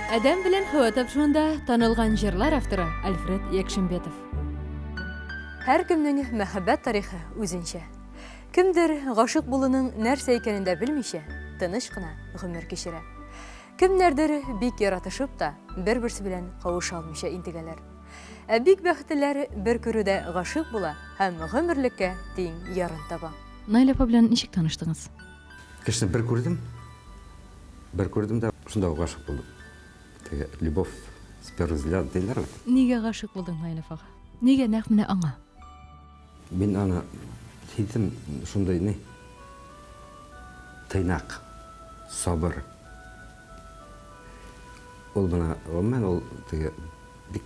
Адәм белән һава тапшуында танылган җырлар авторы Альфред Якшимбетов. Һәркемнең мәхәббәт тарихы үзенчә. Кемдер, гашыйк булуның нәрсә икәнен дә белмичә, тыныч кына гомер кичерә. Кемнәрдер бик яратышып та, бер-берсе белән кавыша алмыйча интегәләр. Ә бик бәхетлеләр бер күрүдә гашыйк була һәм гомерлеккә тиң ярын таба. Наилә апа белән ничек таныштыңыз? Кешене бер күрдем. Бер күрдем дә, шунда ук гашыйк булдым. Теге любовь с первого взгляда диләр бит. Нигә гашыйк булдың Наилә апага? Нигә нәкъ менә аңа? Мин аны сиздем, шундый ни, тыйнак, сабыр. Ул гына, гомумән, ул теге бик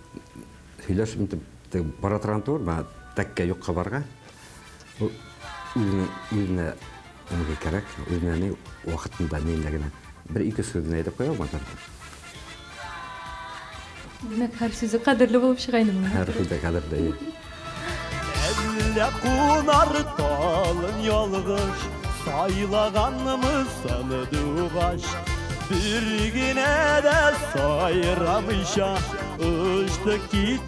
сөйләш интеп теге бара торган түгел, бана тәккә юкка барга. Ул үзенә Нигә кирәк? Үзенә ни вакытында, нилә генә. Бер-ике сүз генә әйтеп куя алмадыр. Димәк, һәр сүзе кадерле булып чыга инде моның. Һәр сүзе кадерле. Әллә кунар талын ялгыш, сайлаганмы саны дугач? Бер генә дә сайрамыйча, очты кит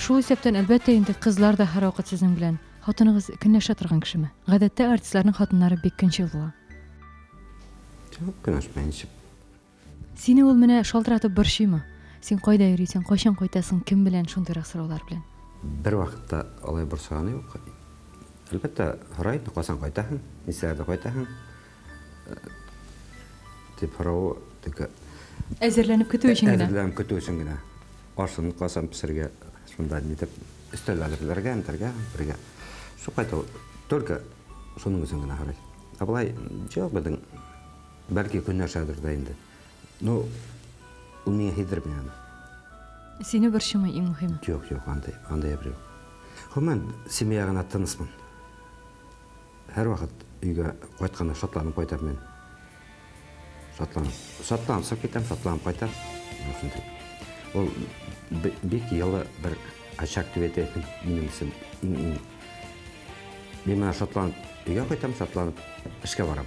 Шул исәптән, әлбәттә инде, кызлар да һәрвакыт сезнең белән. Хатыныгыз көнләшә торган кешеме? Гадәттә артистларның хатыннары бик көнчел була. Чак көнләшмәй ничек? Сине ул менә шалтыратып борчыймы? Син кайда йөрисең, кайчан кайтасың, кем белән, шундыйрак сораулар белән. Бервакытта алай борчыганы юк. Әлбәттә, сорый, кайчан кайтасың, ничәләрдә кайтасың, Дип һорау текә. Әзерләнеп көтү өчен генә. Әзерләнеп көтү өчен генә. Ашын касан пешергә, шунда нитеп өстәл әзерләргә, нитәргә, бергә. Шул кайту только шуның өчен генә һорый. Ә болай җыяк безнең бәлки көннәршәдер дә инде. Ну, ул миңа һидерми аны. Сине борчымый иң мөһиме. Юк, юк, андый, андый әйбер юк. Гомумән, семья гына тынысмын. Һәрвакыт өйгә кайтканда шатланып кайтам мин. Шатланып. Шатланып чыгып китәм, шатланып кайтам. Ул бик елы бер очаг дип әйтә минем өчен. Мин менә шатланып өйгә кайтам, шатланып эшкә барам.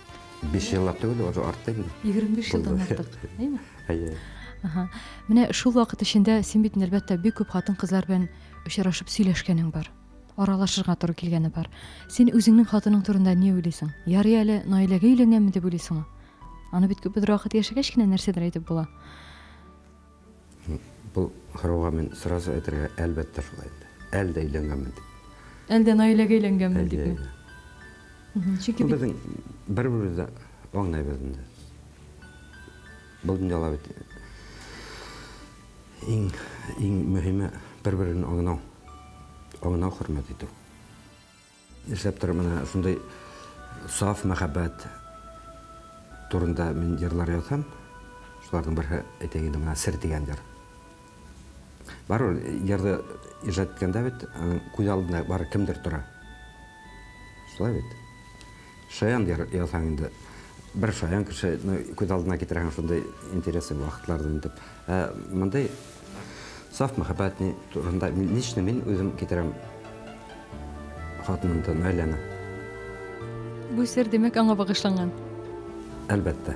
Биш еллап түгел, уже артты инде. 25 елдан Булды. артык, әйме? Әйе. Аһа. Менә шул вакыт эчендә син бит әлбәттә бик күп хатын-кызлар белән очрашып сөйләшкәнең бар. Аралашырга туры килгәне бар. Син үзеңнең хатының турында ни уйлыйсың? Ярый әле Наиләгә өйләнгәнме дип уйлыйсыңмы? Аны бит күп бер вакыт яшәгәч кенә нәрсәдер әйтеп була. Бу сорауга мин сразу әйтергә, әлбәттә шулай инде. Әлдә өйләнгәнмен дип. Әлдә Наиләгә өйләнгәнмен дип. Әйе, әйе. Чөнки бит... Безнең бер-беребез дә аңлыйбыз инде. Бу дөньяда бит иң, иң мөһиме бер-береңне аңлау. Аңлау, хөрмәт итү. Эшләп торып менә шундый саф мәхәббәт турында мин җырлар язам. Шуларның берсе әйтәйен инде менә Сер дигән җыр. Бар ул җырны иҗат иткәндә бит күз алдында бар кемдер тора. Шулай бит. Шаян язһаң инде, бер шаян кешене күз алдына китерәһең, шундый интересы вакытлардан итеп. Ә мондый саф мәхәббәт ни турында лично мин үзем китерәм хатынымды, Наиләне. Бу сер, димәк, аңа багышланган. Әлбәттә.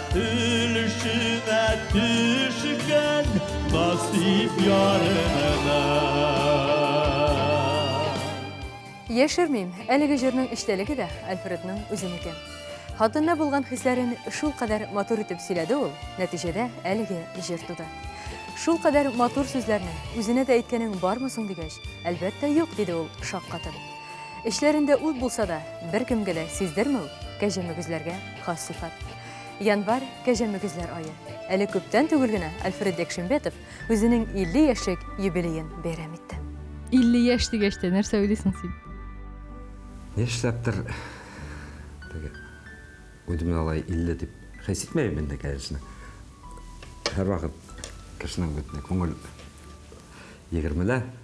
Өлешенә төшкән насип ярына Яшермим, әлеге җырның эчтәлеге дә Альфредның үзенеке. Хатынына булган хисләрен шул кадәр матур итеп сөйләде ул, нәтиҗәдә әлеге җыр туды. Шул кадәр матур сүзләрне үзенә дә әйткәнең бармы соң дигәч, әлбәттә юк, диде ул шаккатып. Эчләрендә ут булса да, беркемгә дә сиздермәү кәҗә мөгезләргә хас сыйфат. Январь кәҗә мөгезләр ае. Әле күптән түгел генә Альфред Якшембетов үзенең 50 яшьлек юбилеен бәйрәм итте. 50 яшь дигәч тә, нәрсә уйлыйсың син? Нишләптер теге үземне алай 50 дип хис итмәйм инде, конечно. Һәрвакыт кешенең бит күңел 20-лә.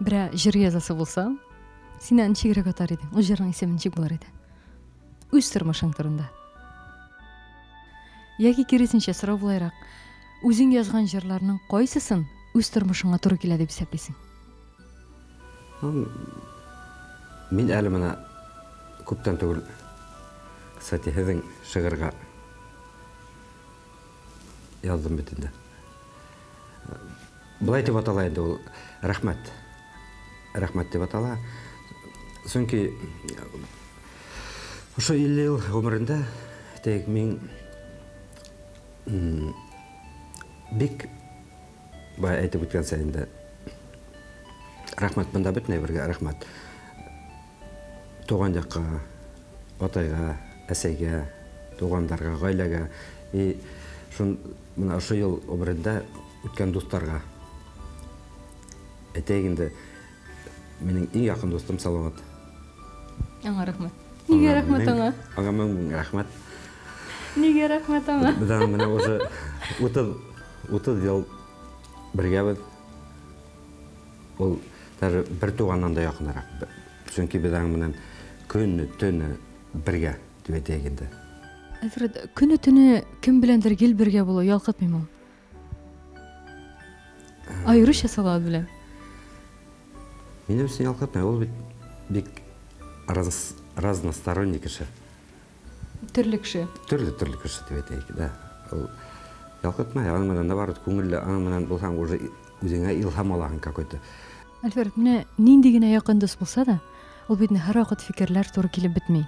Берәр җыр язасы булса, син аны ничегрәк атар идең? Ул җырның исеме ничек булыр иде? Үз тормышың турында. Яки киресенчә сорау булайрак, үзең язган җырларның кайсысын үз тормышыңа туры килә дип исәплисең? Мин әле менә күптән түгел, кстати, һезнең шигырьгә Яздым бит инде. Былай дип атала инде ул рәхмәт. Рәхмәт дип атала. Чөнки ошо 50 ел гомерендә тек мин бик бай әйтеп үткәнсә инде. Рәхмәт монда бөтенләй бергә рәхмәт. Туган якка, атайга, әсәйгә, тугандарга, гаиләгә и шун менә ошый ел гомерендә үткән дусларга. Әйтәйек инде, минем иң якын дустым Салават. Аңа рәхмәт. Нигә рәхмәт аңа? Аңа мең мең рәхмәт. Нигә рәхмәт аңа? Без аңа менә уже 30 ел бергәбез. Ул даже бер туганнан да якынрак. Чөнки без аның белән көнне, төне бергә дип әйтәйек инде. Альфред, көне төне кем беләндер гел бергә булу ялкытмыймы ул? Аеруча Салават белән. Минем өчен ялкытмый, ул бит бик разносторонний кеше. Төрле кеше. Төрле төрле кеше дип әйтәйек, да. Ул ялкытмай, аның менән наоборот күңелле, аның менән булсаң уже үзеңә илһам алаһың какой-то. Альфред, менә нинди генә якын дус булса да, ул бит һәр вакыт фикерләр туры килеп бетми.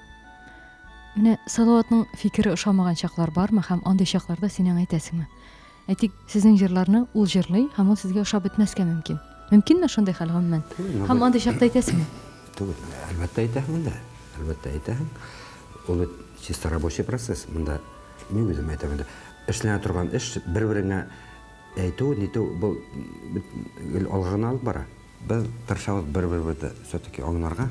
Менә Салаватның фикере ошамаган чаклар бармы һәм андый чакларда синең әйтәсеңме? Әйтик, сезнең җырларны ул җырлый һәм ул сезгә ошап бетмәскә мөмкин. Мөмкинме шундый хәл, гомумән? Һәм андый чакта әйтәсеңме? Түгел, әлбәттә әйтәһең дә. Әлбәттә әйтәһең. Ул бит чисто рабочий процесс. Монда мин үзем әйтәм инде. Эшләнә торган эш бер-береңә әйтү, нитү бу гел алга гына алып бара. Без тырышабыз бер-беребезне все-таки аңларга.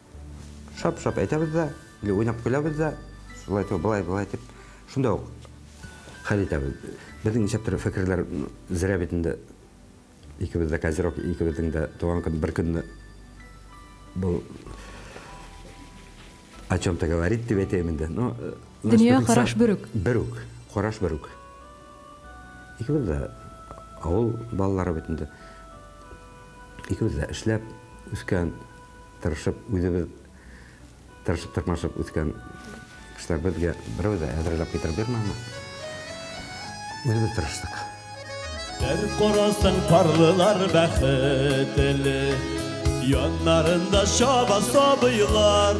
Шап-шап әйтәбез дә, или уйнап көләбез дә, шулай итеп, былай, былай итеп, шунда ук хәл итәбез. Безнең ничә төрле фикерләр зря бит инде икебез дә козерог, икебезнең дә туган көн бер көнне бу о чем-то говорит дип әйтәм инде. Но э, дөнья караш бер үк. Бер үк, караш бер үк. Икебез дә авыл балалары бит инде. Икебез дә эшләп үскән тырышып, үзебез тырышып-тырмашып үскән кешеләр безгә берәү дә әзерләп китереп бирмәде. Үзебез тырыштык. Бер карасын парлылар бәхетле, яннарында чаба сабыйлар.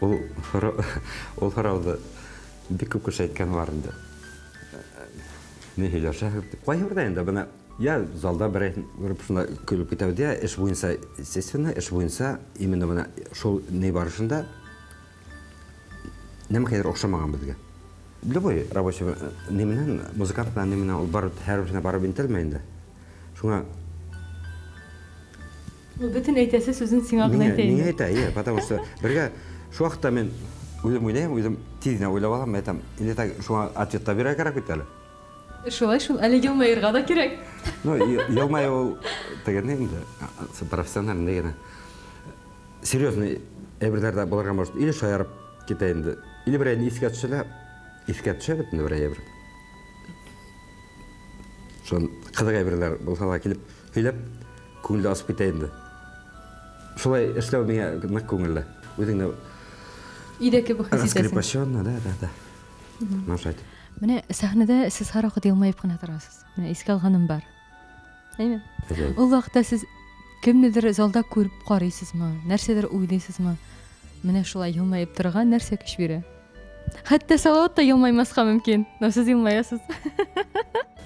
Ул һорауды бик күп кеше әйткән бар инде. Ни һөйләшәһең? Кайһы бердә инде бына я залда берәй күреп шунда көлеп китәбез, я эш буенча, естественно, эш буенча именно бына шул ни барышында нәм хәер охшамаган безгә. Любой рабочий ни менән, музыкант белән ни менән ул бар һәрберсенә барып интелмә инде. Шуңа Ул бөтен әйтәсе сүзен сиңа гына әйтә инде. Миңа әйтә, әйе, потому что бергә шул хакта мин үзем уйлыйм, үзем тиз генә уйлап алам, әйтәм, инде так шуңа ответ та бирергә кирәк бит әле. Шулай шул, әле елмаерга да кирәк. Ну, елмаю ул тегене инде, профессиональный генә. Серьезный әйберләр дә булырга может, или шаярып китә инде, или берәйне искә төшә лә, искә төшә бит инде берәй әйбер. Шул кызык әйберләр булса да килеп һөйләп. Күңел дә асып китә инде. Шулай эшләү миңа нык күңелле. Үзең дә Өйдә кебек хис итәсең. Раскрепощённо, да, да, да. Наша итеп. Менә сәхнәдә сез һәрвакыт елмаеп кына торасыз. Менә искә алганым бар. Әйме? Ул вакытта сез кемнедер залда күреп карыйсызмы? Нәрсәдер уйлыйсызмы? Менә шулай елмаеп торырга нәрсә көч бирә? Хәтта Салават та елмаймаска мөмкин, но сез елмаясыз.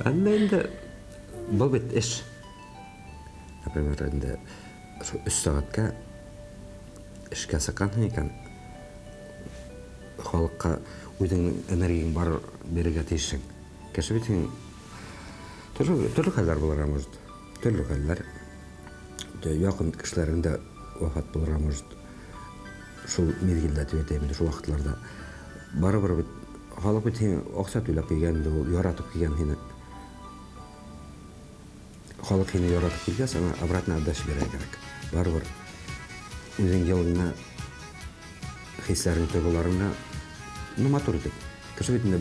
Әмма инде бу бит эш. Например, инде өч сәгатькә эшкә сыккансың икән, халыкка үзеңнең энергияң бар бирергә тиешсең. Кеше бит син төрле, төрле хәлләр булырга может. Төрле хәлләр. Якын кешеләрең дә вафат булырга может. Шул мизгелдә дип әйтәм инде, шул вакытларда. Барыбер бит халык бит сине акча түләп килгән инде ул, яратып килгән сине. Халык сине яратып килгән, сиңа обратно отдача бирә кирәк. Барыбер үзең елыңны, хисләрен, тойгыларыңны, ну, матур итеп. Кеше бит инде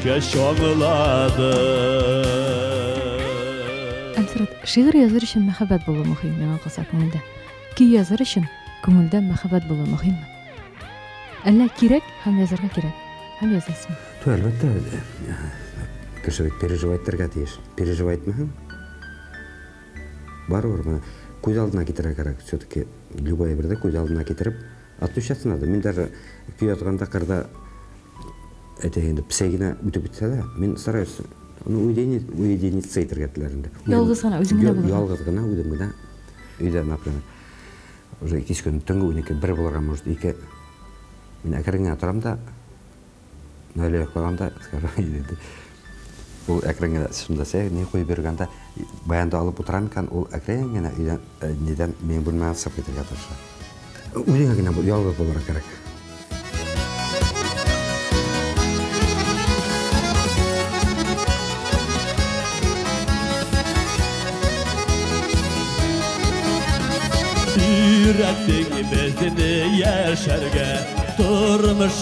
Кеш аңылады Әнсрат, шигырь языр өчен мәхәббәт булу мөһим, миңа калса күңелдә. Көй языр өчен күңелдә мәхәббәт булу мөһимме? Әллә кирәк һәм язарга кирәк? Һәм язасың. Ту, әлбәттә, кеше бит переживать итәргә тиеш. Переживать итмәһәң, барыбер, күз алдына китерә кирәк. Все-таки любая бердә күз алдына китереп, Отпечатан надо. Мин даже көй язганда кырда әйтә инде псегина үтеп бетсә дә, мин стараюсь ну уединить уединиться итергә теләр инде. Ялгыз гына үзем генә булырга. Ялгыз гына үзем генә өйдә например. Уже кич көн төнге 12 бер булырга может ике. Мин әкрен генә торам да Әле йоклаганда иде. Ул әкрен генә шунда сәй, ни куеп биргәндә, баянда алып утыра микән, ул әкрен генә өйдән, э, нидән, мин бүлмәгә сып китергә тырыша. Үзеңә генә ялгыз булырга кирәк. Өйрәттең безне яшәргә, тормыш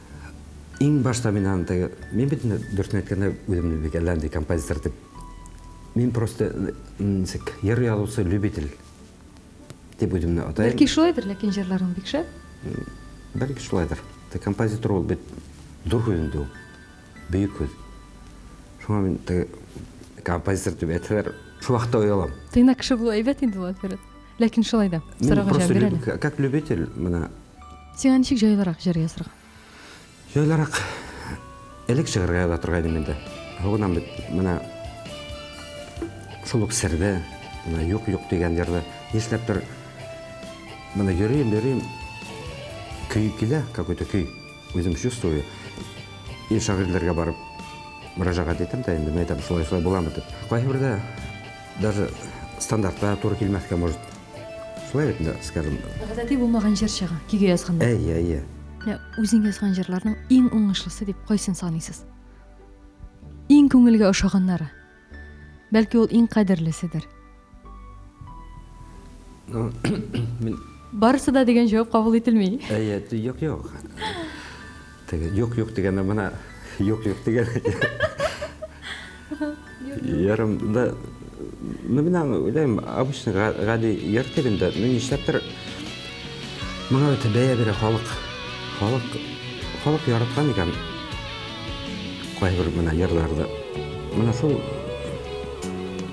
Иң башта мин аны теге, мин бит инде дөресен әйткәндә, үземне бик әллә нинди композитор дип. Мин просто ничек, җыр язучы любитель дип үземне атайм. Бәлки шулайдыр, ләкин җырларың бик шәп. Бәлки шулайдыр. Те композитор ул бит дур һүз инде ул. Бөек һүз. Шуңа мин композитор дип әйтсәләр, шул вакытта оялам. Тыйнак кеше булу әйбәт инде, Латвират. Ләкин шулай да, сорауга җавап бир әле. Как любитель, менә. Сиңа ничек җайлырак җыр язырга? Җайлырак. Элек чыгарга яза торган идем инде. Гынам бит, менә шул ук сердә, менә юк-юк дигән җырны нишләптер менә йөрим, йөрим, көй килә, какой-то көй, үзем чувствую. И шагыйрьләргә барып мөрәҗәгать итәм дә инде, мен әйтәм, шулай-шулай буламы дип. Кайһы бердә Даже стандартлар туры килмәскә может. Шулай бит, скажем. Гадәти булмаган җыр чыга, киге язганда. Әйе, әйе. Менә үзең язган җырларның иң уңышлысы дип кайсын саныйсыз? Иң күңелгә ошаганнары. Бәлки ул иң кадерлеседер. Ну, мин Барысы да дигән җавап кабул ителми. Әйе, юк, юк. Теге юк юк дигәндә менә юк юк дигән. Ярым да ну менә уйлыйм, обычный гади йорт инде. Ну нишләптер моңа үтә бәя бирә халык. Халык халык яраткан икән. Кайбер менә йырларда. Менә шул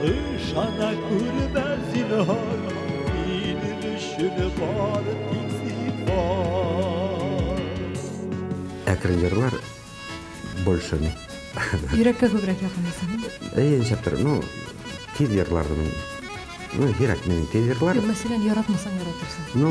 Ышана күрмә, зинһар, минем өчен бар тик сифат. Ә крыльерлар больше не. Йөрәккә күбрәк якын дисең. Әйе, нишләп тор, ну, тиз ерлардым мин. Ну, һирәк мин тиз ерлар. Мәсәлән, яратмасаң яратырсың. Ну,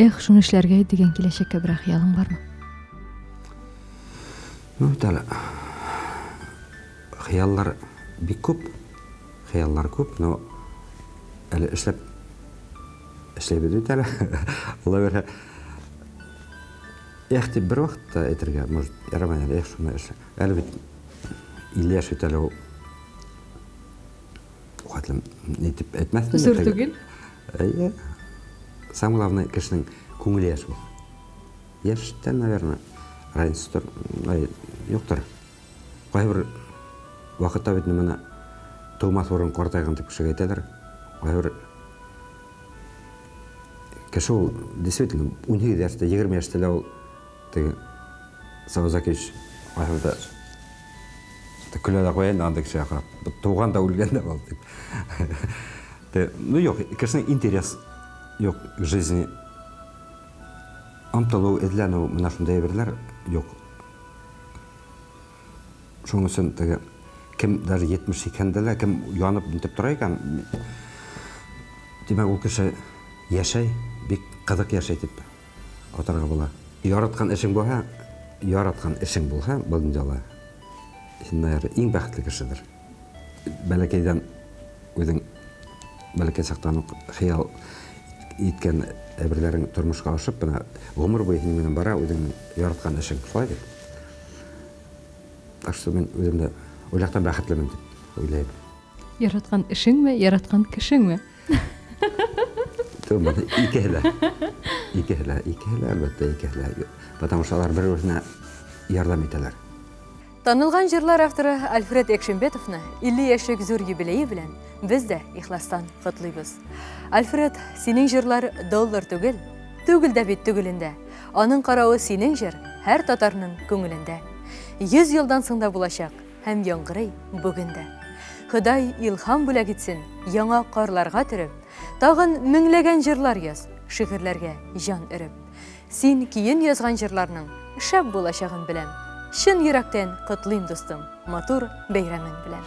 Эх, шуны эшләргә дигән киләчәккә берәр хыялың бармы? Ну, бит әле. Хыяллар бик күп. Хыяллар күп, но әле эшләп эшләбез бит әле. Алла бирһә. Эх, дип бер вакытта әйтергә, может, ярамай әле, эх, шуны эшлә. Әле бит 50 яшь бит әле ул. Хәтлем, нитеп әйтмәсме? Зур түгел. Әйе. Сам главный кешенең күңеле яшь ул. Яшьтән, наверное, разница тор, ай, юктыр. Кайбер вакытта бит менә тумас урын картайган дип кеше әйтәдер. Кайбер кеше ул действительно 18 яшьтә, 20 яшьтә лә ул теге Саузакевич ахырда көлә дә куя инде андый кешегә карап. Туган да үлгән дә ул дип. Те, ну юк, кешенең интерес юк к жизни. Омтылу, эзләнү, менә шундый әйберләр юк. Шуның өчен теге кем даже 70 икәндә лә, кем янып нитеп тора икән, димәк, ул кеше яшәй, бик кызык яшәй дип атарга була. Яраткан эшең булһа, яраткан эшең булһа, был инде алай. Син, наверное, иң бәхетле кешедер. Бәләкәйдән үзең бәләкәй чактан ук хыял иткән әйберләрең тормышка ашып менә гомер буе синең белән бара үзеңнең яраткан эшең шулай бит так что мин үзем дә ул яктан бәхетлемен дип уйлыйм яраткан эшеңме яраткан кешеңме түгел икеһе дә икеһе дә икеһе дә әлбәттә икеһе дә потому что алар бер берсенә ярдәм итәләр Танылган җырлар авторы Альфред Экшимбетовны 50 яшьлек зур юбилее белән без дә ихластан котлыйбыз. Альфред, синең җырлар доллар түгел, түгел дә бит түгелендә. Аның каравы синең җыр һәр татарның күңелендә. 100 елдан соң да булачак һәм яңгырый бүген дә. Ходай илһам бүләк итсен, яңа карларга төреп, тагын меңләгән җырлар яз, шигырьләргә җан өреп. Син киен язган җырларның шәп булачагын беләм. Чын йөрәктән котлыйм дустым, матур бәйрәмең белән.